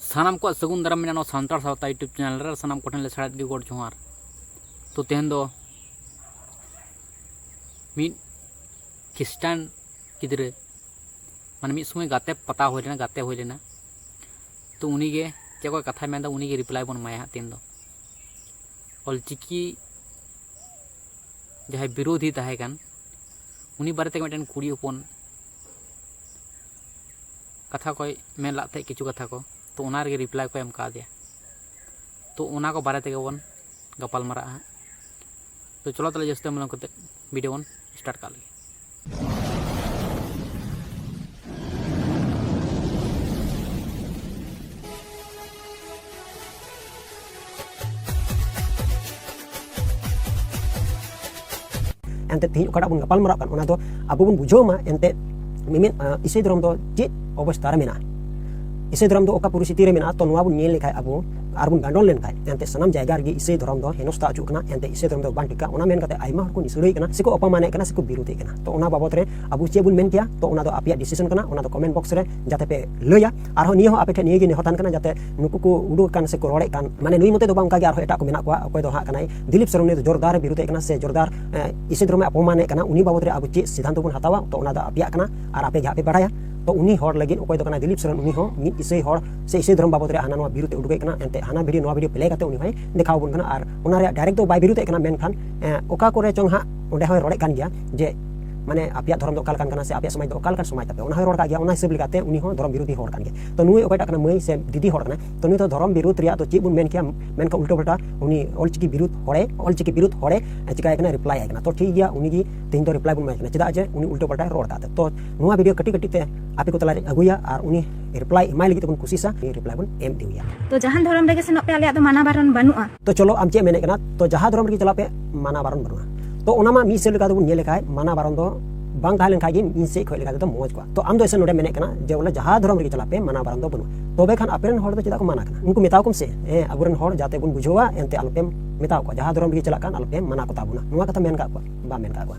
ᱥᱟᱱᱟᱢ ᱠᱚᱣᱟᱜ ᱥᱟᱹᱜᱩᱱ ᱫᱟᱨᱟᱢ ᱢᱮᱱᱟᱜᱼᱟ ᱱᱚᱣᱟ ᱥᱟᱱᱛᱟᱲ ᱥᱟᱶᱛᱟ ᱤᱭᱩᱴᱩᱵᱽ ᱪᱮᱱᱮᱞ ᱨᱮ ᱥᱟᱱᱟᱢ ᱠᱚᱴᱷᱮᱱ ᱞᱮ ᱥᱟᱲᱮᱫ ᱜᱮ ᱜᱚᱰ ᱡᱚᱦᱟᱨ ᱛᱚ ᱛᱮᱦᱮᱧ ᱫᱚ ᱢᱤᱫ ᱠᱷᱤᱥᱴᱟᱱ ᱜᱤᱫᱽᱨᱟᱹ ᱢᱟᱱᱮ ᱢᱤᱫ ᱥᱚᱢᱚᱭ ᱜᱟᱛᱮ ᱯᱟᱛᱟ ᱦᱩᱭ ᱞᱮᱱᱟ ᱜᱟᱛᱮ ᱦᱩᱭ ᱞᱮᱱᱟ ᱛᱚ ᱩᱱᱤᱜᱮ ᱪᱮᱫ ᱠᱚ ᱠᱟᱛᱷᱟᱭ ᱢᱮᱱᱫᱟ ᱩᱱᱤᱜᱮ ᱨᱤᱯᱞᱟᱭ ᱵᱚᱱ ᱮᱢᱟᱭᱟ ᱦᱟᱸᱜ ᱛᱮᱦᱮᱧ ᱫᱚ ᱚᱞᱪᱤᱠᱤ ᱡᱟᱦᱟᱸᱭ ᱵᱤᱨᱳᱫᱷᱤ ᱛᱟᱦᱮᱸ ᱠᱟᱱ ᱩᱱᱤ ᱵᱟᱨᱮᱛᱮ ᱢᱤᱫᱴᱮᱱ ᱠᱩᱲᱤ ᱦᱚᱯᱚᱱ ᱠᱟᱛᱷᱟ ᱠᱚᱭ ᱢᱮᱱ ᱞᱮᱫ ᱛᱟᱦᱮᱸᱫ ᱠᱤᱪᱷᱩ ᱠᱟᱛᱷᱟ ᱠᱚ ᱛᱚ ᱚᱱᱟ ᱨᱮᱜᱮ ᱨᱤᱯᱞᱟᱭ ᱠᱚ ᱮᱢ ᱠᱟᱣᱫᱮᱭᱟ ᱛᱚ ᱚᱱᱟ ᱠᱚ ᱵᱟᱨᱮ ᱛᱮᱜᱮ ᱵᱚᱱ ᱜᱟᱯᱟᱞ ᱢᱟᱨᱟᱜᱼᱟ ᱦᱟᱸᱜ ᱛᱚ ᱪᱚᱞᱚ ᱛᱟᱦᱚᱞᱮ ᱡᱟᱹᱥᱛᱤ ᱵᱟᱝ ᱵᱤᱞᱚᱢ ᱠᱟᱛᱮ ᱵᱷᱤᱰᱤᱭᱳ ᱵᱚᱱ ᱥᱴᱟᱨᱴ ᱠᱟᱜ ᱞᱮᱜᱮ ᱮᱱᱛᱮ ᱛᱮᱦᱮᱧ ᱚᱠᱟᱴᱟᱜ ᱵᱚᱱ ᱜᱟᱯᱟᱞ ᱢᱟᱨᱟᱜ ᱠᱟᱱ ᱚᱱᱟ ᱫᱚ ᱟᱵᱚ ᱵᱚᱱ ᱵᱩᱡᱷᱟᱹᱣ ᱢᱟ ᱮᱱᱛᱮ ᱢᱤᱢᱤᱫ ᱤᱥᱟᱹᱭ ᱫᱷᱚᱨᱚᱢ ᱫᱚ ᱪᱮᱫ ᱚᱵᱚᱥᱛᱟ ᱨᱮ ᱢᱮᱱᱟᱜᱼᱟ ᱤᱥᱟᱹᱭ ᱫᱷᱚᱨᱚᱢ ᱫᱚ ᱚᱠᱟ ᱯᱚᱨᱤᱥᱛᱷᱤᱛᱤ ᱨᱮ ᱢᱮᱱᱟᱜᱼᱟ ᱛᱚ ᱱᱚᱣᱟ ᱵᱚᱱ ᱧᱮᱞ ᱞᱮᱠᱷᱟᱡ ᱟᱵᱚ ᱟᱨ ᱵᱚᱱ ᱜᱟᱸᱰᱚᱱ ᱞᱮᱱᱠᱷᱟᱡ ᱮᱱᱛᱮ ᱥᱟᱱᱟᱢ ᱡᱟᱭᱜᱟ ᱨᱮᱜᱮ ᱤᱥᱟᱹᱭ ᱫᱷᱚᱨᱚᱢ ᱫᱚ ᱦᱮᱱᱚᱥᱛᱟ ᱦᱚᱪᱚᱜ ᱠᱟᱱᱟ ᱮᱱᱛᱮ ᱤᱥᱟᱹᱭ ᱫᱷᱚᱨᱚᱢ ᱫᱚ ᱵᱟᱝ ᱴᱷᱤᱠᱟ ᱚᱱᱟ ᱢᱮᱱ ᱠᱟᱛᱮ ᱟᱭᱢᱟ ᱦᱚᱲ ᱠᱚ ᱱᱤᱥᱲᱟᱹᱭ ᱠᱟᱱᱟ ᱥᱮᱠᱚ ᱚᱯᱚᱢᱟᱱᱮᱫ ᱠᱟᱱᱟ ᱥᱮᱠᱚ ᱵᱤᱨᱳᱫᱮᱫ ᱠᱟᱱᱟ ᱛᱚ ᱚᱱᱟ ᱵᱟᱵᱚᱫ ᱨᱮ ᱟᱵᱚ ᱪᱮᱫ ᱵᱚᱱ ᱢᱮᱱ ᱠᱮᱭᱟ ᱛᱚ ᱚᱱᱟ ᱫᱚ ᱟᱯᱮᱭᱟᱜ ᱰᱤᱥᱤᱥᱚᱱ ᱠᱟᱱᱟ ᱚᱱᱟ ᱫᱚ ᱠᱚᱢᱮᱱᱴ ᱵᱚᱠᱥ ᱨᱮ ᱡᱟᱛᱮ ᱯᱮ ᱞᱟᱹᱭᱟ ᱟᱨᱦᱚᱸ ᱱᱤᱭᱟᱹ ᱦᱚᱸ ᱟᱯᱮ ᱴᱷᱮᱱ ᱱᱤᱭᱟᱹ ᱜᱮ ᱱᱮᱦᱚᱨ ᱛᱟᱦᱮᱱ ᱠᱟᱱᱟ ᱡᱟᱛᱮ ᱱᱩᱠᱩ ᱠᱚ ᱩᱰᱩᱠ ᱠᱟᱱ ᱥᱮ ᱠᱚ ᱨᱚᱲᱮᱫ ᱠᱟᱱ ᱢᱟᱱᱮ ᱱᱩᱭ ᱢᱚᱛᱮ ᱫᱚ ᱵᱟᱝ ᱚᱱᱠᱟ ᱜᱮ ᱟᱨᱦᱚᱸ ᱮᱴᱟᱜ ᱠᱚ ᱢᱮᱱᱟᱜ ᱠᱚᱣᱟ ᱚᱠᱚᱭ ᱫᱚ ᱦᱟᱸᱜ ᱠᱟᱱᱟᱭ ᱫᱤᱞᱤᱯ ᱥᱚᱨᱮᱱ ᱱᱩᱭ ᱫᱚ ᱡᱳᱨᱫᱟᱨ ᱮ ᱵᱤᱨᱩᱫᱷᱮᱫ ᱠᱟᱱᱟ ᱥᱮ ᱡᱳᱨᱫᱟᱨ ᱤᱥᱤ ᱫᱷᱚᱨᱚᱢᱮ ᱚᱯᱚᱢᱟᱱᱮᱫ ᱠᱟᱱᱟ ᱩᱱᱤ ᱵᱟᱵᱚᱫ ᱨᱮ ᱟᱵᱚ ᱪᱮᱫ ᱥᱤᱫᱷᱟᱱᱛᱚ ᱵᱚᱱ ᱦᱟᱛᱟᱣᱟ ᱛᱚ ᱚᱱᱟ ᱫᱚ ᱟᱯᱮᱭᱟᱜ ᱠᱟᱱᱟ ᱟᱨ ᱟᱯᱮ ᱜᱮ ᱟᱯᱮ ᱵᱟᱲᱟᱭᱟ ᱛᱚ ᱩᱱᱤ ᱦᱚᱲ ᱞᱟᱹᱜᱤᱫ ᱚᱠᱚᱭ ᱫᱚ ᱠᱟᱱᱟ ᱫᱤᱞᱤᱯ ᱥᱚᱨᱮᱱ ᱩᱱᱤ ᱦᱚᱸ ᱢᱤᱫ ᱤᱥᱟᱹᱭ ᱦᱚᱲ ᱥᱮ ᱤᱥᱟᱹᱭ ᱫᱷᱚᱨᱚᱢ ᱵᱟᱵᱚᱫ ᱨᱮ ᱦᱟᱱᱟ ᱱᱚᱣᱟ ᱵᱤᱨᱩᱫᱷ ᱩᱰᱩᱠᱮᱫ ᱠᱟᱱᱟ ᱮᱱᱛᱮ ᱦᱟᱱᱟ ᱵᱷᱤᱰᱤᱭᱳ ᱱᱚᱣᱟ ᱵᱷᱤᱰᱤᱭᱳ ᱯᱞᱮ ᱠᱟᱛᱮ ᱩᱱᱤ ᱦᱚᱸᱭ ᱫᱮᱠᱷᱟᱣ ᱵᱚᱱ ᱠᱟᱱᱟ ᱟᱨ ᱚᱱᱟ ᱨᱮᱭᱟᱜ ᱰᱟᱭᱨᱮᱠᱴ ᱫᱚ ᱵᱟᱭ ᱵᱤᱨᱩᱫᱷᱮᱫ ᱠᱟᱱᱟ ᱢᱮᱱᱠᱷᱟᱱ ᱚᱠᱟ ᱠᱚᱨᱮ ᱪᱚᱝ ᱦᱟᱸᱜ ᱚᱸᱰᱮ ᱦᱚᱸᱭ ᱨᱚᱲᱮᱫ ᱠᱟᱱ ᱜᱮᱭᱟ ᱡᱮ ᱢᱟᱱᱮ ᱟᱯᱮᱭᱟᱜ ᱫᱷᱚᱨᱚᱢ ᱫᱚ ᱚᱠᱟ ᱞᱮᱠᱟᱱ ᱠᱟᱱᱟ ᱥᱮ ᱟᱯᱮᱭᱟᱜ ᱥᱚᱢᱟᱡᱽ ᱫᱚ ᱚᱠᱟ ᱞᱮᱠᱟᱱ ᱥᱚᱢᱟᱡᱽ ᱛᱟᱯᱮ ᱚᱱᱟ ᱦᱚᱸᱭ ᱨᱚᱲ ᱠᱟᱜ ᱜᱮᱭᱟ ᱚᱱᱟ ᱦᱤᱥᱟᱹᱵ ᱞᱮᱠᱟᱛᱮ ᱩᱱᱤ ᱦᱚᱸ ᱫᱷᱚᱨᱚᱢ ᱵᱤᱨᱳᱫᱷᱤ ᱦᱚᱲ ᱠᱟᱱ ᱜᱮᱭᱟ ᱛᱚ ᱱᱩᱭ ᱚᱠᱚᱭᱴᱟᱜ ᱠᱟᱱᱟ ᱢᱟᱹᱭ ᱥᱮ ᱫᱤᱫᱤ ᱦᱚᱲ ᱠᱟᱱᱟ ᱛᱚ ᱱᱩᱭ ᱫᱚ ᱫᱷᱚᱨᱚᱢ ᱵᱤᱨᱳᱫᱷ ᱨᱮᱭᱟᱜ ᱫᱚ ᱪᱮᱫ ᱵᱚᱱ ᱢᱮᱱ ᱠᱮᱭᱟ ᱢᱮᱱᱠᱷᱟᱱ ᱩᱞᱴᱟᱹ ᱯᱟᱞᱴᱟ ᱩᱱᱤ ᱚᱞᱪᱤᱠᱤ ᱵᱤᱨᱳᱫᱷ ᱦᱚᱲᱮ ᱚᱞᱪᱤᱠᱤ ᱵᱤᱨᱳᱫᱷ ᱦᱚᱲᱮ ᱪᱤᱠᱟᱭ ᱠᱟᱱᱟ ᱨᱤᱯᱞᱟᱭ ᱟᱭ ᱠᱟᱱᱟ ᱛᱚ ᱴᱷᱤᱠ ᱜᱮᱭᱟ ᱩᱱᱤ ᱜᱮ ᱛᱮᱦᱮᱧ ᱫᱚ ᱨᱤᱯᱞᱟᱭ ᱵᱚᱱ ᱮᱢᱟᱭ ᱠᱟᱱᱟ ᱪᱮᱫᱟᱜ ᱡᱮ ᱩᱱᱤ ᱩᱞᱴᱟᱹ ᱯᱟᱞᱴᱟᱭ ᱨᱚᱲ ᱠᱟᱜ ᱛᱚ ᱱᱚᱣᱟ ᱵᱷᱤᱰᱤᱭᱳ ᱠᱟᱹᱴᱤᱡ ᱠᱟᱹᱴᱤᱡ ᱛᱮ ᱟᱯᱮ ᱠᱚ ᱛᱟᱞᱟᱨᱮ ᱟᱹᱜᱩᱭᱟ ᱟᱨ ᱩᱱᱤ ᱨᱤᱯᱞᱟᱭ ᱮᱢᱟᱭ ᱞᱟᱹᱜᱤᱫ ᱛᱮᱵᱚᱱ ᱠᱩᱥᱤᱥᱟ ᱨᱤᱯᱞᱟᱭ ᱵᱚᱱ ᱮᱢ ᱤᱫᱤᱭᱟ ᱛᱚ ᱡᱟᱦᱟᱱ ᱫᱷᱚᱨᱚᱢ ᱨᱮᱜᱮ ᱥᱮᱱᱚᱜ ᱯᱮ ᱟᱞᱮᱭᱟᱜ ᱫᱚ ᱢᱟᱱᱟ ᱵᱟᱨᱚᱱ ᱵᱟᱹᱱᱩᱜᱼᱟ ᱛᱚ ᱪᱚᱞᱚ ᱟᱢ ᱪᱮᱫ ᱢᱮᱱᱮᱫ ᱠᱟᱱᱟ ᱛᱚ ᱡᱟᱦᱟᱸ ᱫᱷᱚᱨᱚᱢ ᱨᱮᱜᱮ ᱪᱟᱞᱟᱜ ᱯᱮ ᱢᱟᱱᱟ ᱵᱟᱨᱚᱱ ᱵᱟᱹᱱᱩᱜᱼᱟ ᱛᱚ ᱚᱱᱟ ᱢᱟ ᱢᱤᱫ ᱥᱮᱫ ᱞᱮᱠᱟ ᱛᱮᱵᱚᱱ ᱧᱮᱞ ᱞᱮᱠᱷᱟᱡ ᱢᱟᱱᱟ ᱵᱟᱨᱚᱱ ᱫᱚ ᱵᱟᱝ ᱛᱟᱦᱮᱸ ᱞᱮᱱᱠᱷᱟᱡ ᱜᱮ ᱤᱧ ᱥᱮᱫ ᱠᱷᱚᱡ ᱞᱮᱠᱟ ᱛᱮᱫᱚ ᱢᱚᱡᱽ ᱠᱚᱜᱼᱟ ᱛᱚ ᱟᱢ ᱫᱚ ᱮᱥᱮ ᱱᱚᱰᱮ ᱢᱮᱱᱮᱫ ᱠᱟᱱᱟ ᱡᱮ ᱵᱚᱞᱮ ᱡᱟᱦᱟᱸ ᱫᱷᱚᱨᱚᱢ ᱨᱮᱜᱮ ᱪᱟᱞᱟᱜ ᱯᱮ ᱢᱟᱱᱟ ᱵᱟᱨᱚᱱ ᱫᱚ ᱵᱟᱹᱱᱩᱜᱼᱟ ᱛᱚᱵᱮ ᱠᱷᱟᱱ ᱟᱯᱮ ᱨᱮᱱ ᱦᱚᱲ ᱫᱚ ᱪᱮᱫᱟᱜ ᱠᱚ ᱢᱟᱱᱟ ᱠᱟᱱᱟ ᱩᱱᱠᱩ ᱢᱮᱛᱟᱣ ᱠᱚᱢ ᱥᱮ ᱦᱮᱸ ᱟᱵᱚ ᱨᱮᱱ ᱦᱚᱲ ᱡᱟᱛᱮ ᱵᱚᱱ ᱵᱩᱡᱷᱟᱹᱣᱟ ᱮᱱᱛᱮ ᱟᱞᱚᱯᱮ ᱢᱮᱛᱟᱣ ᱠᱚᱣᱟ ᱡᱟᱦᱟᱸ ᱫᱷᱚᱨᱚᱢ ᱨᱮᱜᱮ ᱪᱟᱞᱟᱜ ᱠᱟᱱ ᱟᱞᱚᱯᱮ ᱢᱟᱱᱟ ᱠᱚᱛᱟ ᱵᱚᱱᱟ ᱱᱚᱣᱟ ᱠᱟᱛᱷᱟ ᱢᱮᱱ ᱠᱟᱜ ᱠᱚᱣᱟ ᱵᱟᱢ ᱢᱮᱱ ᱠᱟᱜ ᱠᱚᱣᱟ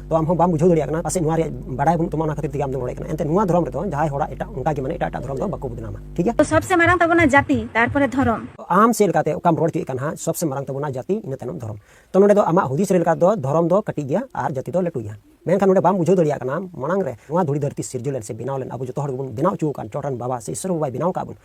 ᱛᱚ ᱟᱢ ᱦᱚᱸ ᱵᱟᱢ ᱵᱩᱡᱷᱟᱹᱣ ᱫᱟᱲᱮᱭᱟᱜ ᱠᱟᱱᱟ ᱯᱟᱥᱮᱡ ᱱᱚᱣᱟ ᱨᱮᱭᱟᱜ ᱵᱟᱰᱟᱭ ᱵᱟᱹᱱᱩᱜ ᱛᱟᱢᱟ ᱚᱱᱟ ᱠᱷᱟᱹᱛᱤᱨ ᱛᱮᱜᱮ ᱟᱢ ᱫᱚ ᱨᱚᱲᱮᱫ ᱠᱟᱱᱟ ᱮᱱᱛᱮ ᱱᱚᱣᱟ ᱫᱷᱚᱨᱚᱢ ᱨᱮᱫᱚ ᱡᱟᱦᱟᱸᱭ ᱦᱚᱲᱟᱜ ᱮᱴᱟᱜ ᱚᱱᱠᱟ ᱜᱮ ᱢᱟᱱᱮ ᱮᱴᱟᱜ ᱮᱴᱟᱜ ᱫᱷᱚᱨᱚᱢ ᱫᱚ ᱵᱟᱠᱚ ᱵᱚᱫᱱᱟᱢᱟ ᱴᱷᱤᱠ ᱜᱮᱭᱟ ᱛᱚ ᱥᱚᱵᱥᱮ ᱢᱟᱨᱟᱝ ᱛᱟᱵᱚᱱᱟ ᱡᱟᱹᱛᱤ ᱛᱟᱨᱯᱚᱨᱮ ᱫᱷᱚᱨᱚᱢ ᱟᱢ ᱪᱮᱫ ᱞᱮᱠᱟᱛᱮ ᱚᱠᱟᱢ ᱨᱚᱲ ᱦᱚᱪᱚᱭᱮᱫ ᱠᱟᱱ ᱦᱟᱸᱜ ᱥᱚᱵᱥᱮ ᱢᱟᱨᱟᱝ ᱛᱟᱵᱚᱱᱟ ᱡᱟᱹᱛᱤ ᱤᱱᱟᱹ ᱛᱟᱭᱱᱚᱢ ᱫᱷᱚᱨᱚᱢ ᱛᱚ ᱱᱚᱰᱮ ᱫᱚ ᱟᱢᱟᱜ ᱦᱩᱫᱤᱥ ᱨᱮ ᱞᱮᱠᱟ ᱫᱚ ᱫᱷᱚᱨᱚᱢ ᱫᱚ ᱠᱟᱹᱴᱤᱡ ᱜᱮᱭᱟ ᱟᱨ ᱡᱟᱹᱛᱤ ᱫᱚ ᱞᱟᱹᱴᱩ ᱜᱮᱭᱟ ᱢᱮᱱᱠᱷᱟᱱ ᱱᱚᱰᱮ ᱵᱟᱢ ᱵᱩᱡᱷᱟᱹᱣ ᱫᱟᱲᱮᱭᱟᱜ ᱠᱟᱱᱟ ᱢᱟᱲᱟᱝ ᱨᱮ ᱱᱚᱣᱟ ᱫᱷᱩᱲᱤ ᱫᱷᱟᱹᱨᱛᱤ ᱥᱤᱨᱡᱟᱹᱣ ᱞᱮᱱ ᱥᱮ ᱵᱮᱱᱟᱣ ᱞᱮᱱ ᱟᱵᱚ ᱡᱚᱛᱚ ᱦᱚᱲ ᱜᱮᱵᱚᱱ ᱵᱮᱱᱟᱣ ᱦᱚᱪᱚ ᱟᱠᱟᱱ ᱪᱚᱴᱨᱮᱱ ᱵᱟᱵᱟ ᱥᱮ ᱤᱥᱚᱨ ᱵᱟᱵᱟᱭ ᱵᱮᱱᱟᱣ ᱟᱠᱟᱫ ᱵᱚᱱ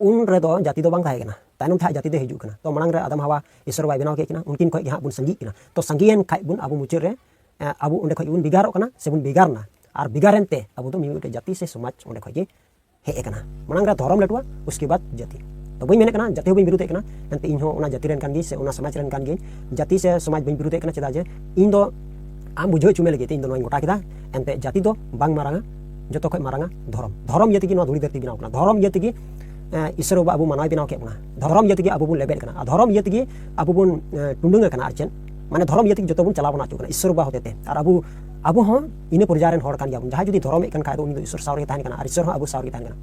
ᱩᱱ ᱨᱮᱫᱚ ᱡᱟᱹᱛᱤ ᱫᱚ ᱵᱟᱝ ᱛᱟᱦᱮᱸ ᱠᱟᱱᱟ ᱛᱟᱭᱱᱚᱢ ᱛᱮ ᱡᱟᱹᱛᱤ ᱫᱚ ᱦᱤᱡᱩᱜ ᱠᱟᱱᱟ ᱛᱚ ᱢᱟᱲᱟᱝ ᱨᱮ ᱟᱫᱟᱢ ᱦᱟᱣᱟ ᱤᱥᱚᱨ ᱵᱟᱭ ᱵᱮᱱᱟᱣ ᱠᱮᱫ ᱠᱤᱱᱟ ᱩᱱᱠᱤᱱ ᱠᱷᱚᱱ ᱜᱮ ᱦᱟᱸᱜ ᱵᱚᱱ ᱥᱟᱸᱜᱤᱜ ᱠᱟᱱᱟ ᱛᱚ ᱥᱟᱸᱜᱤᱭᱮᱱ ᱠᱷᱟᱡ ᱵᱚᱱ ᱟᱵᱚ ᱢᱩᱪᱟᱹᱫ ᱨᱮ ᱟᱵᱚ ᱚᱸᱰᱮ ᱠᱷᱚᱱ ᱵᱚᱱ ᱵᱷᱮᱜᱟᱨᱚᱜ ᱠᱟᱱᱟ ᱥᱮ ᱵᱚᱱ ᱵᱷᱮᱜᱟᱨᱱᱟ ᱟᱨ ᱵᱷᱮᱜᱟᱨᱮᱱ ᱛᱮ ᱟᱵᱚ ᱫᱚ ᱢᱤᱫᱴᱮᱡ ᱡᱟᱹᱛᱤ ᱥᱮ ᱥᱚᱢᱟᱡᱽ ᱚᱸᱰᱮ ᱠᱷᱚᱱ ᱜᱮ ᱦᱮᱡ ᱟᱠᱟᱱᱟ ᱢᱟᱲᱟᱝ ᱨᱮ ᱫᱷᱚᱨᱚᱢ ᱞᱟᱹᱴᱩᱣᱟ ᱩᱥᱠᱮ ᱵᱟᱫ ᱡᱟᱹᱛᱤ ᱛᱚ ᱵᱟᱹᱧ ᱢᱮᱱᱮᱫ ᱠᱟᱱᱟ ᱡᱟᱹᱛᱤ ᱦᱚᱸ ᱵᱟᱹᱧ ᱵᱤᱨᱩᱫᱷᱮᱫ ᱠᱟᱱᱟ ᱮᱱᱛᱮ ᱤᱧ ᱦᱚᱸ ᱚᱱᱟ ᱡᱟᱹᱛᱤ ᱨᱮᱱ ᱠᱟᱱ ᱜᱤᱭᱟᱹᱧ ᱥᱮ ᱚᱱᱟ ᱥᱚᱢᱟᱡᱽ ᱨᱮᱱ ᱠᱟᱱ ᱜᱤᱭᱟᱹᱧ ᱡᱟᱹᱛᱤ ᱥᱮ ᱥᱚᱢᱟᱡᱽ ᱵᱟᱹᱧ ᱵᱤᱨᱩᱫᱷᱮᱫ ᱠᱟᱱᱟ ᱪᱮᱫᱟᱜ ᱡᱮ ᱤᱧ ᱫᱚ ᱟᱢ ᱵᱩᱡᱷᱟᱹᱣ ᱦᱚᱪᱚ ᱢᱮ ᱞᱟᱹᱜᱤᱫ ᱛᱮ ᱤᱧ ᱫᱚ ᱱᱚᱣᱟᱧ ᱜᱚᱴᱟ ᱠᱮᱫᱟ ᱮᱱᱛᱮ ᱡᱟᱹᱛᱤ ᱫᱚ ᱵᱟᱝ ᱢᱟᱨᱟᱝᱟ ᱡᱚᱛᱚ ᱠᱷᱚᱱ ᱢᱟᱨᱟᱝᱟ ᱫᱷᱚᱨᱚᱢ ᱫᱷᱚᱨᱚᱢ ᱤᱭᱟᱹ ᱛᱮᱜᱮ ᱱᱚᱣᱟ ᱫᱷᱩᱲᱤ ᱫᱷᱟᱹᱨᱛᱤ ᱵᱮᱱᱟᱣ ᱠᱟᱱᱟ ᱫᱷᱚᱨᱚᱢ ᱤᱭᱟᱹ ᱛᱮᱜᱮ ᱤᱥᱚᱨ ᱵᱟᱵᱟ ᱟᱵᱚ ᱢᱟᱱᱟᱣ ᱵᱮᱱᱟᱣ ᱠᱮᱫ ᱵᱚᱱᱟ ᱫᱷᱚᱨᱚᱢ ᱤᱭᱟᱹ ᱛᱮᱜᱮ ᱟᱵᱚ ᱵᱚᱱ ᱞᱮᱵᱮᱫ ᱠᱟᱱᱟ ᱟᱨ ᱫᱷᱚᱨᱚᱢ ᱤᱭᱟᱹ ᱛᱮᱜᱮ ᱟᱵᱚ ᱵᱚᱱ ᱴᱩᱰᱟᱹᱝ ᱟᱠᱟᱱᱟ ᱟᱨ ᱪᱮᱫ ᱢᱟᱱᱮ ᱫᱷᱚᱨᱚᱢ ᱤᱭᱟᱹ ᱛᱮᱜᱮ ᱡᱚᱛᱚ ᱵᱚᱱ ᱪᱟᱞᱟᱣ ᱵᱚᱱ ᱟᱪᱩᱜ ᱠᱟᱱᱟ ᱤᱥᱚᱨ ᱵᱟᱵᱟ ᱦᱚᱛᱮᱛᱮ ᱟᱨ ᱟᱵᱚ ᱟᱵᱚ ᱦᱚᱸ ᱤᱱᱟᱹ ᱯᱚᱨᱡᱟᱭ ᱨᱮᱱ ᱦᱚᱲ ᱠᱟᱱ ᱜᱮᱭᱟᱵᱚᱱ ᱡᱟᱦᱟᱸᱭ ᱡᱩᱫᱤ ᱫᱷᱚᱨᱚᱢᱮᱫ ᱠᱟᱱ ᱠᱷᱟᱡ ᱫᱚ ᱩᱱᱤ ᱫᱚ ᱤᱥᱚᱨ ᱥᱟᱶ ᱨᱮᱜᱮ ᱛᱟᱦᱮᱱ ᱠᱟᱱᱟ ᱟᱨ ᱤᱥᱚᱨ ᱦᱚᱸ ᱟᱵᱚ ᱥᱟᱶ ᱨᱮᱜᱮ ᱛᱟᱦᱮᱱ ᱠᱟᱱᱟ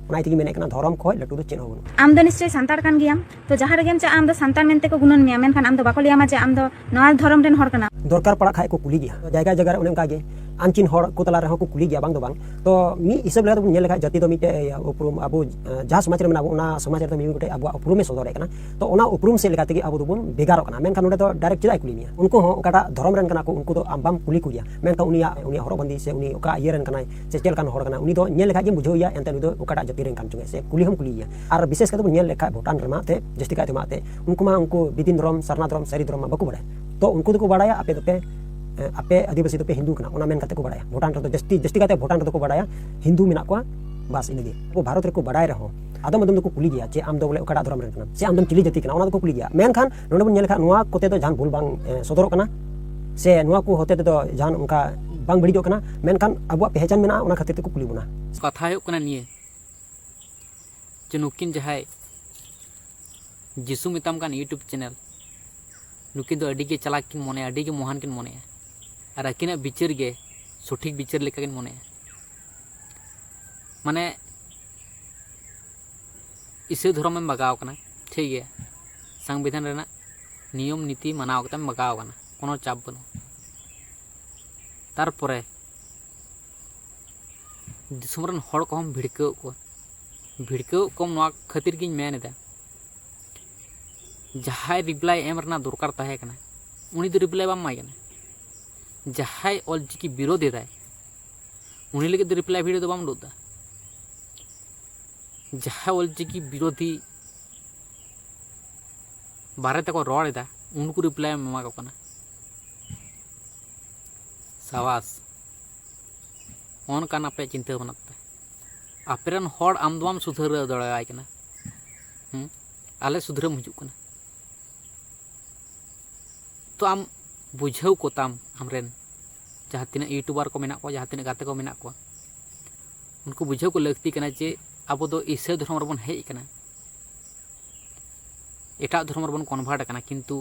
ᱚᱱᱟ ᱛᱮᱜᱮ ᱢᱮᱱᱮᱫ ᱠᱟᱱᱟ ᱫᱷᱚᱨᱚᱢ ᱠᱷᱚᱡ ᱞᱟᱹᱴᱩ ᱫᱚ ᱪᱮᱫ ᱦᱚᱸ ᱵᱟᱹᱱᱩᱜᱼᱟ ᱟᱢ ᱫᱚ ᱱᱤᱥᱪᱚᱭ ᱥᱟᱱᱛᱟᱲ ᱠᱟᱱ ᱜᱮᱭᱟᱢ ᱛᱚ ᱡᱟᱦᱟᱸ ᱨᱮᱜᱮᱢ ᱪᱟᱜᱼᱟ ᱟᱢ ᱫᱚ ᱥᱟᱱᱛᱟᱲ ᱢᱮᱱᱛᱮ ᱠᱚ ᱜᱩᱱᱟᱹᱱ ᱢᱮᱭᱟ ᱢᱮᱱᱠᱷᱟᱱ ᱟᱢ ᱫᱚ ᱵᱟᱠᱚ ᱞᱟᱹᱭᱟᱢᱟ ᱡᱮ ᱟᱢ ᱫᱚ ᱱᱚᱣᱟ ᱫᱷᱚᱨᱚᱢ ᱨᱮᱱ ᱦᱚᱲ ᱠᱟᱱᱟ ᱫᱚᱨᱠᱟᱨ ᱯᱟᱲᱟᱜ ᱠᱷᱟᱡ ᱠᱚ ᱠᱩᱞᱤ ᱜᱮᱭᱟ ᱡᱟᱭᱜᱟ ᱡᱟᱭᱜᱟ ᱨᱮ ᱚᱱᱮ ᱚᱱᱠᱟ ᱜᱮ ᱟᱱᱪᱤᱱ ᱦᱚᱲ ᱠᱚ ᱛᱟᱞᱟ ᱨᱮᱦᱚᱸ ᱠᱚ ᱠᱩᱞᱤ ᱜᱮᱭᱟ ᱵᱟᱝ ᱫᱚ ᱵᱟᱝ ᱛᱚ ᱢᱤᱫ ᱦᱤᱥᱟᱹᱵ ᱞᱮᱠᱟ ᱛᱮᱵᱚᱱ ᱧᱮᱞ ᱞᱮᱠᱷᱟᱡ ᱡᱟᱹᱛᱤ ᱫᱚ ᱢᱤᱫᱴᱮᱡ ᱩᱯᱨᱩᱢ ᱟᱵᱚ ᱡᱟᱦᱟᱸ ᱥᱚᱢᱟᱡᱽ ᱨᱮ ᱢᱮᱱᱟᱜ ᱵᱚᱱ ᱚᱱᱟ ᱥᱚᱢᱟᱡᱽ ᱨᱮᱫᱚ ᱢᱤᱢᱤᱫ ᱜᱚᱴᱮᱡ ᱟᱵᱚᱣᱟᱜ ᱩᱯᱨᱩᱢᱮ ᱥᱚᱫᱚᱨ ᱫᱟᱲᱮᱭᱟᱜ ᱠᱟᱱᱟ ᱛᱚ ᱚᱱᱟ ᱩᱯᱨᱩᱢ ᱥᱮᱫ ᱞᱮᱠᱟ ᱛᱮᱜᱮ ᱟᱵᱚ ᱫᱚᱵᱚᱱ ᱵᱷᱮᱜᱟᱨᱚᱜ ᱠᱟᱱᱟ ᱢᱮᱱᱠᱷᱟᱱ ᱱᱚᱰᱮ ᱫᱚ ᱰᱟᱭᱨᱮᱠᱴ ᱪᱮᱫᱟᱜ ᱠᱩᱞᱤ ᱢᱮᱭᱟ ᱩᱱᱠᱩ ᱦᱚᱸ ᱚᱠᱟᱴᱟᱜ ᱫᱷᱚᱨᱚᱢ ᱨᱮᱱ ᱠᱟᱱᱟ ᱠᱚ ᱩᱱᱠᱩ ᱫᱚ ᱟᱢ ᱵᱟᱢ ᱠᱩᱞᱤ ᱠᱚ ᱜᱮᱭᱟ ᱢᱮᱱᱠᱷᱟᱱ ᱩᱱᱤᱭᱟᱜ ᱩᱱᱤᱭᱟᱜ ᱦᱚᱨᱚᱜ ᱵᱟᱸᱫᱮ ᱥᱮ ᱩᱱᱤ ᱚᱠᱟ ᱤᱭᱟᱹ ᱨᱮᱱ ᱠᱟᱱᱟᱭ ᱥᱮ ᱪᱮᱫ ᱞᱮᱠᱟᱱ ᱦᱚᱲ ᱠᱟᱱᱟᱭ ᱩᱱᱤ ᱫᱚ ᱧᱮᱞ ᱞᱮᱠᱷᱟᱡ ᱜᱮᱢ ᱵᱩᱡᱷᱟᱹᱣᱮᱭᱟ ᱮᱱᱛᱮ ᱩᱱᱤ ᱫᱚ ᱚᱠᱟᱴᱟᱜ ᱡᱟᱹᱛᱤ ᱨᱮᱱ ᱠᱟᱱ ᱪᱚᱝ ᱥᱮ ᱠᱩᱞᱤ ᱦᱚᱸᱢ ᱠᱩᱞᱤᱭᱮᱭᱟ ᱟᱨ ᱵᱤᱥᱮᱥ ᱠᱟᱛᱮ ᱵᱚᱱ ᱧᱮᱞ ᱞᱮᱠᱷᱟᱡ ᱵᱷᱩᱴᱟᱱ ᱨᱮᱢᱟ ᱛᱮ ᱡᱟᱹᱥᱛᱤ ᱠᱟᱭᱛᱮ ᱢᱟ ᱛᱮ ᱩᱱᱠᱩ ᱢᱟ ᱩᱱᱠᱩ ᱵᱤᱫᱤᱱ ᱫᱷᱚᱨᱚᱢ ᱥᱟᱨᱱᱟ ᱫᱷᱚᱨᱚᱢ ᱥᱟᱹᱨᱤ ᱫᱷᱚᱨᱚᱢ ᱢᱟ ᱵᱟᱠᱚ ᱵᱟᱲᱟᱭᱟ ᱛᱚ ᱩᱱᱠᱩ ᱫᱚᱠᱚ ᱵᱟᱲᱟᱭᱟ ᱟᱯᱮ ᱫᱚᱯᱮ ᱟᱯᱮ ᱟᱹᱫᱤᱵᱟᱹᱥᱤ ᱫᱚᱯᱮ ᱦᱤᱱᱫᱩ ᱠᱟᱱᱟ ᱚᱱᱟ ᱢᱮᱱ ᱠᱟᱛᱮ ᱠᱚ ᱵᱟᱲᱟᱭᱟ ᱵᱷᱩᱴᱟᱱ ᱨᱮᱫᱚ ᱡᱟᱹᱥᱛᱤ ᱡᱟᱹᱥᱛᱤ ᱠᱟᱭᱛᱮ ᱵᱷᱩᱴᱟᱱ ᱨᱮᱫᱚ ᱠᱚ ᱵᱟᱲᱟᱭᱟ ᱦᱤᱱᱫᱩ ᱢᱮᱱᱟᱜ ᱠᱚᱣᱟ ᱵᱟᱥ ᱤᱱᱟᱹᱜᱮ ᱟᱵᱚ ᱵᱷᱟᱨᱚᱛ ᱨᱮᱠᱚ ᱵᱟᱲᱟᱭ ᱨᱮᱦᱚᱸ ᱟᱫᱚᱢ ᱟᱫᱚᱢ ᱫᱚᱠᱚ ᱠᱩᱞᱤ ᱜᱮᱭᱟ ᱡᱮ ᱟᱢ ᱫᱚ ᱵᱚᱞᱮ ᱚᱠᱟᱴᱟᱜ ᱫᱷᱚᱨᱚᱢ ᱨᱮᱱ ᱠᱟᱱᱟᱢ ᱥᱮ ᱟᱢ ᱫᱚᱢ ᱪᱤᱞᱤ ᱡᱟᱹᱛᱤ ᱠᱟᱱᱟ ᱚᱱᱟ ᱫᱚᱠᱚ ᱠᱩᱞᱤ ᱜᱮᱭᱟ ᱢᱮᱱᱠᱷᱟᱱ ᱱᱚᱰᱮ ᱵᱚᱱ ᱧᱮᱞ ᱞᱮᱠᱷᱟᱱ ᱱᱚᱣᱟ ᱠᱚᱛᱮ ᱫᱚ ᱡᱟᱦᱟᱱ ᱵᱷᱩᱞ ᱵᱟᱝ ᱥᱚᱫᱚᱨᱚᱜ ᱠᱟᱱᱟ ᱥᱮ ᱱᱚᱣᱟ ᱠᱚ ᱦᱚᱛᱮ ᱛᱮᱫᱚ ᱡᱟᱦᱟᱱ ᱚᱱᱠᱟ ᱵᱟᱝ ᱵᱟᱹᱲᱤᱡᱚᱜ ᱠᱟᱱᱟ ᱢᱮᱱᱠᱷᱟᱱ ᱟᱵᱚᱣᱟᱜ ᱯᱮᱦᱪᱟᱱ ᱢᱮᱱᱟᱜᱼᱟ ᱚᱱᱟ ᱠᱷᱟᱹᱛᱤᱨ ᱛᱮᱠᱚ ᱠᱩᱞᱤ ᱵᱚᱱᱟ ᱠᱟᱛᱷᱟ ᱦᱩᱭᱩᱜ ᱠᱟᱱᱟ ᱱᱤᱭᱟᱹ ᱡᱮ ᱱᱩᱠᱤᱱ ᱡᱟᱦᱟᱸᱭ ᱡᱤᱥᱩ ᱢᱮᱛᱟᱢ ᱠᱟᱱ ᱤᱭᱩᱴᱩᱵᱽ ᱪᱮᱱᱮᱞ ᱱᱩᱠᱤᱱ ᱫᱚ ᱟᱹᱰᱤ ᱜᱮ ᱪᱟᱞᱟᱠ ᱠᱤᱱ ᱢᱚᱱᱮᱭᱟ ᱟᱹᱰᱤ ᱜᱮ ᱢᱚᱦᱟᱱ ᱠᱤᱱ ᱢᱚᱱᱮᱭᱟ ᱟᱨ ᱟᱹᱠᱤᱱᱟᱜ ᱵᱤᱪᱟᱹᱨ ᱜᱮ ᱥᱚᱴᱷᱤᱠ ᱵᱤᱪᱟᱹᱨ ᱞᱮᱠᱟ ᱠᱤᱱ ᱢᱚᱱᱮᱭᱟ ᱢᱟᱱᱮ ᱤᱥᱟᱹ ᱫᱷᱚᱨᱚᱢᱮᱢ ᱵᱟᱜᱟᱣ ᱠᱟᱱᱟ ᱴᱷᱤᱠ ᱜᱮᱭᱟ ᱥᱟᱝᱵᱤᱫᱷᱟᱱ ᱨᱮᱱᱟᱜ ᱱᱤᱭᱚᱢ ᱱᱤᱛᱤ ᱢᱟᱱᱟᱣ ᱠᱟᱛᱮᱢ ᱵᱟᱜᱟᱣ ᱠᱟᱱᱟ ᱠᱳᱱᱳ ᱪᱟᱯ ᱵᱟᱹᱱᱩᱜᱼᱟ ᱛᱟᱨᱯᱚᱨᱮ ᱫᱤᱥᱚᱢ ᱨᱮᱱ ᱦᱚᱲ ᱠᱚᱦᱚᱸ ᱵᱷᱤᱲᱠᱟᱹᱣ ᱠᱚᱣᱟ ᱵᱷᱤᱲᱠᱟᱹᱣ ᱠᱚᱢ ᱱᱚᱣᱟ ᱠᱷᱟᱹᱛᱤᱨ ᱜᱤᱧ ᱢᱮᱱ ᱮᱫᱟ ᱡᱟᱦᱟᱸᱭ ᱨᱤᱯᱞᱟᱭ ᱮᱢ ᱨᱮᱱᱟᱜ ᱫᱚᱨᱠᱟᱨ ᱛᱟᱦᱮᱸ ᱠᱟᱱᱟ ᱩᱱᱤ ᱫᱚ ᱨᱤᱯᱞᱟᱭ ᱵᱟᱢ ᱮᱢᱟᱭ ᱠᱟᱱᱟ ᱡᱟᱦᱟᱸᱭ ᱚᱞ ᱪᱤᱠᱤ ᱵᱤᱨᱳᱫᱷ ᱮᱫᱟᱭ ᱩᱱᱤ ᱞᱟᱹᱜᱤᱫ ᱫᱚ ᱨᱤᱯᱞᱟᱭ ᱵᱷᱤᱰᱤᱭᱳ ᱫᱚ ᱵᱟᱢ ᱩᱰᱩᱠ ᱮᱫᱟ ᱡᱟᱦᱟᱸᱭ ᱚᱞ ᱪᱤᱠᱤ ᱵᱤᱨᱳᱫᱷᱤ ᱵᱟᱨᱮ ᱛᱮᱠᱚ ᱨᱚᱲ ᱮᱫᱟ ᱩᱱᱠᱩ ᱨᱤᱯᱞᱟᱭ ᱮᱢ ᱮᱢᱟ ᱠᱚ ᱠᱟᱱᱟ ᱥᱟᱵᱟᱥ ᱚᱱᱠᱟᱱ ᱟᱯᱮᱭᱟᱜ ᱪᱤᱱᱛᱟᱹ ᱵᱷᱟᱵᱽᱱᱟ ᱛᱟᱯᱮ ᱟᱯᱮ ᱨᱮᱱ ᱦᱚᱲ ᱟᱢ ᱫᱚ ᱵᱟᱢ ᱥᱩᱫᱷᱟᱹᱨᱟᱹᱣ ᱫᱟᱲᱮᱭᱟᱭ ᱠᱟᱱᱟ ᱦᱮᱸ ᱟᱞᱮ ᱥᱩᱫᱷᱨᱟᱹᱢ ᱦᱤᱡᱩᱜ ᱠᱟᱱᱟ ᱛᱚ ᱟᱢ ᱵᱩᱡᱷᱟᱹᱣ ᱠᱚᱛᱟᱢ ᱟᱢᱨᱮᱱ ᱡᱟᱦᱟᱸ ᱛᱤᱱᱟᱹᱜ ᱤᱭᱩᱴᱩᱵᱟᱨ ᱠᱚ ᱢᱮᱱᱟᱜ ᱠᱚᱣᱟ ᱡᱟᱦᱟᱸ ᱛᱤᱱᱟᱹᱜ ᱜᱟᱛᱮ ᱠᱚ ᱢᱮᱱᱟᱜ ᱠᱚᱣᱟ ᱩᱱᱠᱩ ᱵᱩᱡᱷᱟᱹᱣ ᱠᱚ ᱞᱟᱹᱠᱛᱤ ᱠᱟᱱᱟ ᱡᱮ ᱟᱵᱚ ᱫᱚ ᱤᱥᱟᱹ ᱫᱷᱚᱨᱚᱢ ᱨᱮᱵᱚᱱ ᱦᱮᱡ ᱟᱠᱟᱱᱟ ᱮᱴᱟᱜ ᱫᱷᱚᱨᱚᱢ ᱨᱮᱵᱚᱱ ᱠᱚᱱᱵᱷᱟᱨᱴ ᱟᱠᱟᱱᱟ ᱠᱤᱱᱛᱩ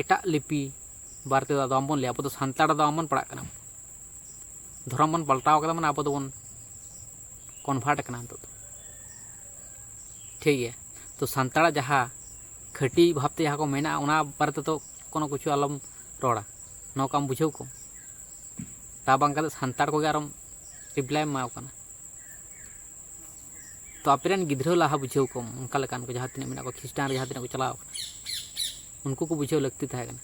ᱮᱴᱟᱜ ᱞᱤᱯᱤ ᱵᱟᱨᱮ ᱛᱮᱫᱚ ᱟᱫᱚ ᱵᱟᱝᱵᱚᱱ ᱞᱟᱹᱭᱟ ᱟᱵᱚ ᱫᱚ ᱥᱟᱱᱛᱟᱲ ᱫᱚ ᱵᱟᱝᱵᱚᱱ ᱯᱟᱲᱟᱜ ᱠᱟᱱᱟ ᱫᱷᱚᱨᱚᱢ ᱵᱚᱱ ᱯᱟᱞᱴᱟᱣ ᱠᱟᱫᱟ ᱢᱟᱱᱮ ᱟᱵᱚ ᱫᱚᱵᱚᱱ ᱠᱚᱱᱵᱷᱟᱨᱴ ᱠᱟᱱᱟ ᱱᱤᱛᱚᱜ ᱫᱚ ᱴᱷᱤᱠ ᱜᱮᱭᱟ ᱛᱚ ᱥᱟᱱᱛᱟᱲᱟᱜ ᱡᱟᱦᱟᱸ ᱠᱷᱟᱹᱴᱤ ᱵᱷᱟᱵᱽᱛᱮ ᱡᱟᱦᱟᱸ ᱠᱚ ᱢᱮᱱᱟᱜᱼᱟ ᱚᱱᱟ ᱵᱟᱨᱮ ᱛᱮᱫᱚ ᱠᱳᱱᱳ ᱠᱤᱪᱷᱩ ᱟᱞᱚᱢ ᱨᱚᱲᱟ ᱱᱚᱝᱠᱟᱢ ᱵᱩᱡᱷᱟᱹᱣ ᱠᱚ ᱛᱟ ᱵᱟᱝ ᱠᱟᱛᱮ ᱥᱟᱱᱛᱟᱲ ᱠᱚᱜᱮ ᱟᱨᱚᱢ ᱨᱤᱯᱞᱟᱭᱮᱢ ᱮᱢᱟᱣ ᱠᱟᱱᱟ ᱛᱚ ᱟᱯᱮ ᱨᱮᱱ ᱜᱤᱫᱽᱨᱟᱹ ᱞᱟᱦᱟ ᱵᱩᱡᱷᱟᱹᱣ ᱠᱚᱢ ᱚᱱᱠᱟ ᱞᱮᱠᱟᱱ ᱠᱚ ᱡᱟᱦᱟᱸ ᱛᱤᱱᱟᱹᱜ ᱢᱮᱱᱟᱜ ᱠᱚᱣᱟ ᱠᱷᱨᱤᱥᱴᱟᱱ ᱨᱮ ᱡᱟᱦᱟᱸ ᱛᱤᱱᱟᱹᱜ ᱠᱚ ᱪᱟᱞᱟᱣ ᱠᱟᱱᱟ ᱩᱱᱠᱩ ᱠᱚ ᱵᱩᱡᱷᱟᱹᱣ ᱞᱟᱹᱠᱛᱤ ᱛᱟᱦᱮᱸ ᱠᱟᱱᱟ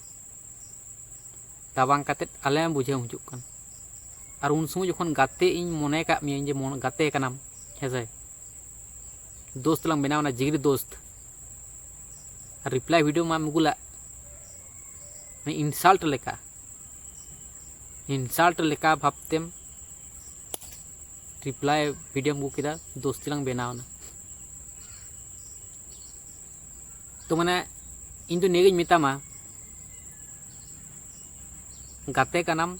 ᱛᱟ ᱵᱟᱝ ᱠᱟᱛᱮ ᱟᱞᱮ ᱵᱩᱡᱷᱟᱹᱣ ᱦᱤᱡᱩᱜ ᱠᱟᱱᱟ ᱟᱨ ᱩᱱ ᱥᱚᱢᱚᱭ ᱡᱚᱠᱷᱚᱱ ᱜᱟᱛᱮ ᱤᱧ ᱢᱚᱱᱮ ᱠᱟᱜ ᱢᱮᱭᱟ ᱡᱮ ᱢᱚᱱ ᱜᱟᱛᱮ ᱠᱟᱱᱟᱢ ᱦᱮᱸᱥᱮ ᱫᱳᱥᱛ ᱞᱟᱝ ᱵᱮᱱᱟᱣᱱᱟ ᱡᱤᱜᱽᱨᱤ ᱫᱳᱥᱛ ᱟᱨ ᱨᱤᱯᱞᱟᱭ ᱵᱷᱤᱰᱤᱭᱳ ᱢᱟᱢ ᱟᱹᱜᱩᱞᱟᱜ ᱢᱟᱱᱮ ᱤᱱᱥᱟᱞᱴ ᱞᱮᱠᱟ ᱤᱱᱥᱟᱞᱴ ᱞᱮᱠᱟ ᱵᱷᱟᱵᱛᱮᱢ ᱨᱤᱯᱞᱟᱭ ᱵᱷᱤᱰᱤᱭᱳᱢ ᱟᱹᱜᱩ ᱠᱮᱫᱟ ᱫᱳᱥᱛᱤ ᱞᱟᱝ ᱵᱮᱱᱟᱣᱱᱟ ᱛᱚ ᱢᱟᱱᱮ ᱤᱧ ᱫᱚ ᱱᱤᱭᱟᱹᱜᱤᱧ ᱢᱮᱛᱟᱢᱟ ᱜᱟᱛᱮ ᱠᱟᱱᱟᱢ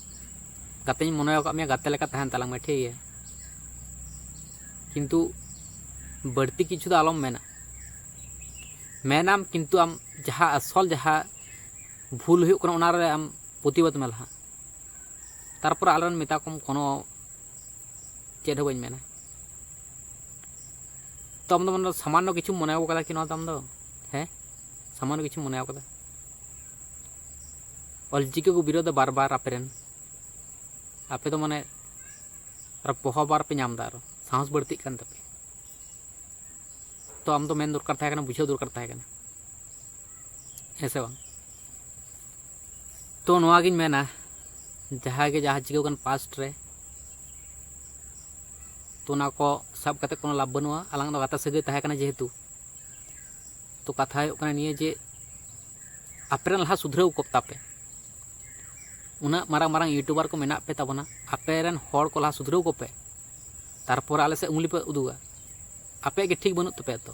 ᱜᱟᱛᱮᱧ ᱢᱚᱱᱮ ᱟᱠᱟᱫ ᱢᱮᱭᱟ ᱜᱟᱛᱮ ᱞᱮᱠᱟ ᱛᱟᱦᱮᱱ ᱛᱟᱞᱟᱝ ᱢᱮ ᱴᱷᱤᱠ ᱜᱮᱭᱟ ᱠᱤᱱᱛᱩ ᱵᱟᱹᱲᱛᱤ ᱠᱤᱪᱷᱩ ᱫᱚ ᱟᱞᱚᱢ ᱢᱮᱱᱟ ᱢᱮᱱᱟᱢ ᱠᱤᱱᱛᱩ ᱟᱢ ᱡᱟᱦᱟᱸ ᱟᱥᱚᱞ ᱡᱟᱦᱟᱸ ᱵᱷᱩᱞ ᱦᱩᱭᱩᱜ ᱠᱟᱱᱟ ᱚᱱᱟᱨᱮ ᱟᱢ ᱯᱨᱚᱛᱤᱵᱟᱫᱽ ᱢᱮ ᱞᱟᱦᱟ ᱛᱟᱨᱯᱚᱨᱮ ᱟᱞᱚᱢ ᱢᱮᱛᱟ ᱠᱚᱢ ᱠᱳᱱᱳ ᱪᱮᱫ ᱦᱚᱸ ᱵᱟᱹᱧ ᱢᱮᱱᱟ ᱛᱚ ᱟᱢ ᱫᱚ ᱢᱟᱱᱮ ᱥᱟᱢᱟᱱᱱᱚ ᱠᱤᱪᱷᱩᱢ ᱢᱚᱱᱮ ᱟᱠᱟᱫᱟ ᱠᱤ ᱱᱚᱣᱟ ᱫᱚ ᱟᱢ ᱫᱚ ᱦᱮᱸ ᱥᱟᱢᱟᱱᱱᱚ ᱠᱤᱪᱷᱩᱢ ᱢᱚᱱᱮ ᱟᱠᱟᱫᱟ ᱚᱞᱪᱤᱠᱤ ᱠᱚ ᱵᱤᱨᱳᱫᱷ ᱵᱟᱨ ᱵᱟᱨ ᱟᱯᱮ ᱨᱮᱱ ᱟᱯᱮ ᱫᱚ ᱢᱟᱱᱮ ᱟᱨ ᱯᱚᱦᱚ ᱵᱟᱨ ᱯᱮ ᱧᱟᱢ ᱮᱫᱟ ᱟᱨᱚ ᱥᱟᱦᱚᱥ ᱵᱟᱹᱲᱛᱤᱜ ᱠᱟᱱ ᱛᱟᱯᱮ ᱛᱚ ᱟᱢ ᱫᱚ ᱢᱮᱱ ᱫᱚᱨᱠᱟᱨ ᱛᱟᱦᱮᱸ ᱠᱟᱱᱟ ᱵᱩᱡᱷᱟᱹᱣ ᱫᱚᱨᱠᱟᱨ ᱛᱟᱦᱮᱸ ᱠᱟᱱᱟ ᱦᱮᱸ ᱥᱮ ᱵᱟᱝ ᱛᱚ ᱱᱚᱣᱟ ᱜᱤᱧ ᱢᱮᱱᱟ ᱡᱟᱦᱟᱸ ᱜᱮ ᱡᱟᱦᱟᱸ ᱪᱤᱠᱟᱹᱣ ᱠᱟᱱ ᱯᱟᱥᱴ ᱨᱮ ᱛᱚ ᱚᱱᱟ ᱠᱚ ᱥᱟᱵ ᱠᱟᱛᱮ ᱠᱳᱱᱳ ᱞᱟᱵᱷ ᱵᱟᱹᱱᱩᱜᱼᱟ ᱟᱞᱟᱝ ᱫᱚ ᱜᱟᱛᱮ ᱥᱟᱹᱜᱟᱹᱭ ᱛᱟᱦᱮᱸ ᱠᱟᱱᱟ ᱡᱮᱦᱮᱛᱩ ᱛᱚ ᱠᱟᱛᱷᱟ ᱦᱩᱭᱩᱜ ᱠᱟᱱᱟ ᱱᱤᱭᱟᱹ ᱡᱮ ᱟᱯᱮ ᱨᱮᱱ ᱞᱟᱦᱟ ᱥᱩᱫᱷᱨᱟᱹᱣ ᱠᱚᱯ ᱛᱟᱯᱮ ᱩᱱᱟᱹᱜ ᱢᱟᱨᱟᱝ ᱢᱟᱨᱟᱝ ᱤᱭᱩᱴᱩᱵᱟᱨ ᱠᱚ ᱢᱮᱱᱟᱜ ᱯᱮ ᱛᱟᱵᱚᱱᱟ ᱟᱯᱮ ᱨᱮᱱ ᱦᱚᱲ ᱠᱚ ᱞᱟᱦᱟ ᱥᱩᱫᱷᱨᱟᱹᱣ ᱠᱚᱯᱮ ᱛᱟᱨᱯᱚᱨ ᱟᱞᱮ ᱥᱮᱫ ᱩᱝᱞᱤ ᱯᱮ ᱩᱫᱩᱜᱟ ᱟᱯᱮᱭᱟᱜ ᱜᱮ ᱴᱷᱤᱠ ᱵᱟᱹᱱᱩᱜ ᱛᱟᱯᱮᱭᱟ ᱛᱚ